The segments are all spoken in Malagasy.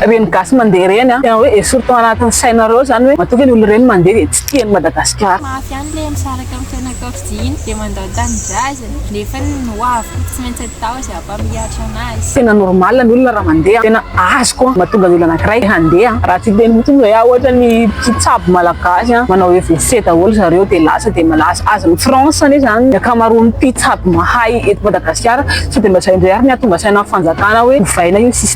Reny gasy mandeha reny an! Tena hoe esory tao anatin'ny sainareo zany hoe matoa ve ny olona reny mandeha dia tsy tia an'i Madagasikara. Mafy any le misaraka am fianakaviy iny de mandao tanindrazana nefa ny ho avy koa tsy maintsy atao zay hampamihatra anazy. Tena normal ny olona raha mandeha, tena azoko an, mahatonga ny olona anakiray te handeha an. Raha tsy hiteny mitsy moa zay aho ohatra ny mpitsabo malagasy an, manao EVC daholo zareo de lasa de malaza, azony France anie zany ny akamaroan'ny mpitsabo mahay eto Madagasikara, sao de mba zay indray ary ny hahatonga saina ny fanjakana hoe ovaina io sisa.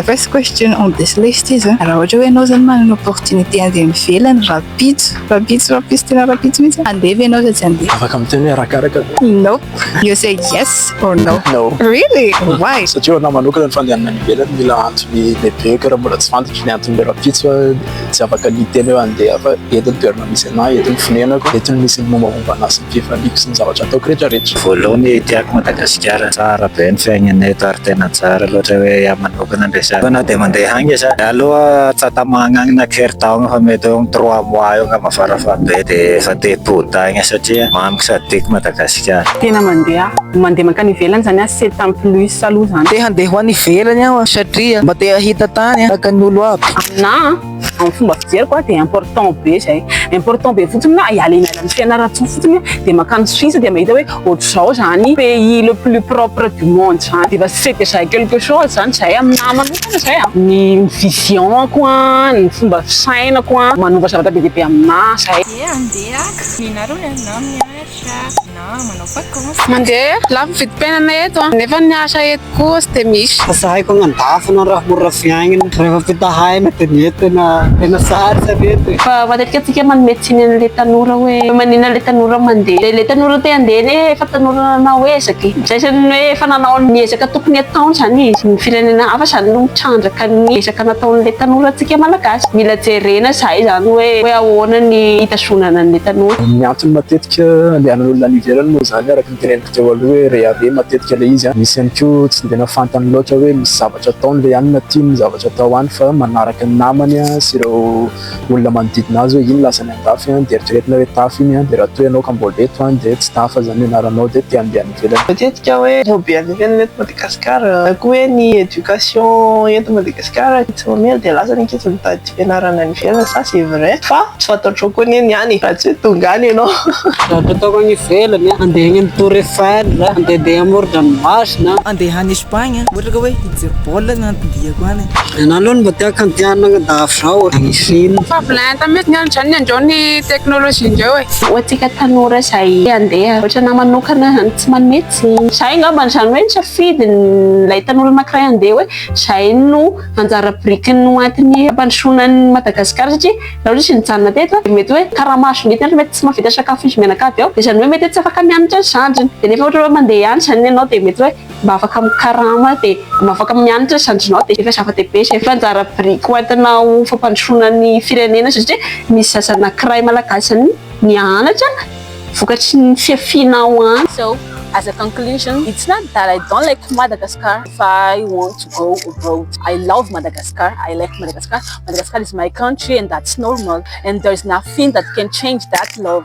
The first question on this list is, raha ohatra hoe ianao zany manana opportunité handeha any ivelany rapitso, rapitso, rapitso, tena rapitso mihitsy, handeha ve ianao sa tsy handeha? Afaka miteny hoe arakaraka. Nope. You say yes or no? No. Really? Why? Satria ho anahy manokana ny fandehanana any ivelany mila antony lehibe, ka raha mbola tsy fantatra ny antony hoe rapitso aho, tsy afaka ny hiteny hoe handeha fa eto ny toerana misy anah, eto ny fonenako, eto no misy ny mombamomba anah sy ny fifaliako sy ny zavatra ataoko rehetra rehetra. Voaloany tiako Madagasikara tsara be ny fiainana eto ary tena tsara loatra hoe ahy manokana ndray sa na dia mandeha agny aza za aloha tsy atamagna agny na kere taogno fa mety eo am trois mois eo ngamba fara fara be de efa te hipody agny satria mamiko sady tiako Madagasikara. Tena mandeha mandeha mankany ivelany zany aho sept ans plus aloha zany. Te handeha ho any ivelany aho satria mba te hahita tany tahaka ny olo aby. Na amin'ny fomba fijeriko dia important be izay. Important be fotsiny na hiala eny andalan'ny Fianarantsoa fotsiny dia mankany Suisse dia mahita hoe ohatr'izao izany pays le plus propre du monde izany. Dia efa c'est déjà quelque chose izany izay aminahy manokana izay an. Ny vision-ko an, ny fomba fisainako an, manova zavatra be dia be aminahy izay. Dia andeha haka. Ny anarany an, na amin'ny art. Mandeha lafo ny vidim-piainana eto an, nefa ny asa eto koa tsy dia misy. Tsy sahiko agnandafy na raha mora fiainana, rehefa ampitahaina dia ny eto tena tena sarotra ny eto e. Fa matetika tsika manome tsiny anle tanora hoe manina le tanora mandeha de le tanora te handeha anie efa tanora nanao ezaka e, zay zany hoe efa nanao ny ezaka tokony ataony zany izy, ny firenena hafa zany no mitrandraka ny ezaka nataonle tanora tsika malagasy, mila jerena zay zany hoe hoe ahoana ny. fitondrana ny methanol. Ny antony matetika andehanan'olona any ivelany moa izany araka ny teneniko teo aloha hoe rehareha matetika ilay izy, misy ihany koa tsy dia nafantany loatra hoe misy zavatra ataony ve any na tiany ny zavatra atao any fa manaraka ny namany sy ireo olona manodidina azy hoe iny lasany andafy dia eritreretina hoe tafa iny dia raha toa ianao ka mbola eto any dia tsy tafa izany ny anaranao dia te handeha any Jereo matetika hoe be any ivelany eto Madagascar na koa hoe ny éducation eto Madagascar tsy mamely dia lasa ny ankizy mitady fianarana any ivelany ça c'est vrai fa tsy fantatrao koa anie ny any raha tsy hoe tonga any ianao. Zavatra ataoko any ivelany an, andeha any amin'ny tour Eiffel, andehandeha amorodranomasina. Andeha any Espagne ohatra ka hoe hijery baolina na andihy. Ianao aloha no mba te hakandianina an-dahavorao e. Misery. Efa avy lenta mihitsy ny andro izany indreo ny technologie indreo e. Ho antsika tanora izay te handeha ohatra anah manokana izany tsy manome tsiny. Izay angamba izany hoe ny safidin'ilay tanora anankiray handeha hoe izay no anjara birikiny no antony hampandrosoana an'i Madagasikara satria raha ohatra izy nijanona teto dia mety hoe karama azon'ny entana mety tsy mahavita sakafo izy mianakavy ao dia izany hoe mety hoe tsy afaka mianatra ny zandriny dia nefa ohatra hoe mandeha any izany ianao dia mety hoe mba afaka mikarama dia mba afaka mianatra ny zandrinao dia efa zava-dehibe izay fa anjara biriky ho entina ho fampandrosoana ny firenena satria misy zaza anakiray malagasy any mianatra vokatry ny fiafianao any izao. As a conclusion, it's not that I don't like Madagascar if I want to go abroad, I love Madagascar, I like Madagascar, Madagascar is my country and that's normal and there's nothing that can change that love.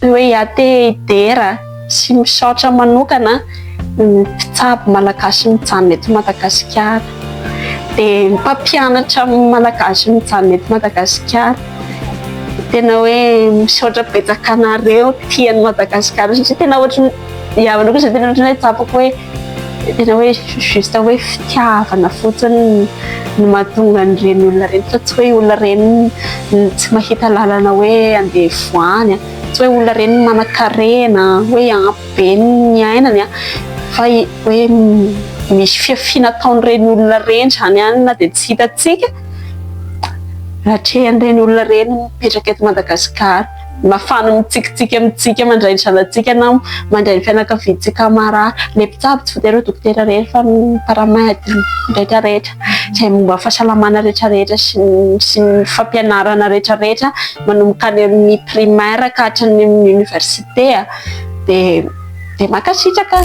Toeate Dera sy misaotra manokana ny mpitsabo malagasy mijanona eto Madagasikara. Dia mpampianatra amin'ny malagasy mijanona eto Madagasikara. Tena hoe misaotra betsaka anareo tia an'i Madagasikara satria tena ohatran'ny, ianareo koa izay tena ohatran'ny hoe tsapako hoe. tena hoe juste hoe fitiavana fotsiny no mahatonga an'ireny olona ireny fa tsy hoe olona ireny tsy mahita lalana hoe andeha voany a, tsy hoe olona ireny manan-karena hoe ampy be ny ainany a, fa hoe misy fihafiana ataon'ireny olona ireny izany ihany na dia tsy hitantsika, atrehan'ireny olona ireny mipetraka eto Madagasikara. Nafana mitsikitsiky amintsika mandray ny zanatsika na mandray ny fianakaviantsika marary. Ilay mpitsabo tsy voatery ho dokotera irery fa ny paramedy rehetrarehetra izay momba ny fahasalamana rehetrarehetra sy ny sy ny fampianarana rehetrarehetra manomboka any amin'ny primaire ka hatrany amin'ny université dia dia mankasitraka.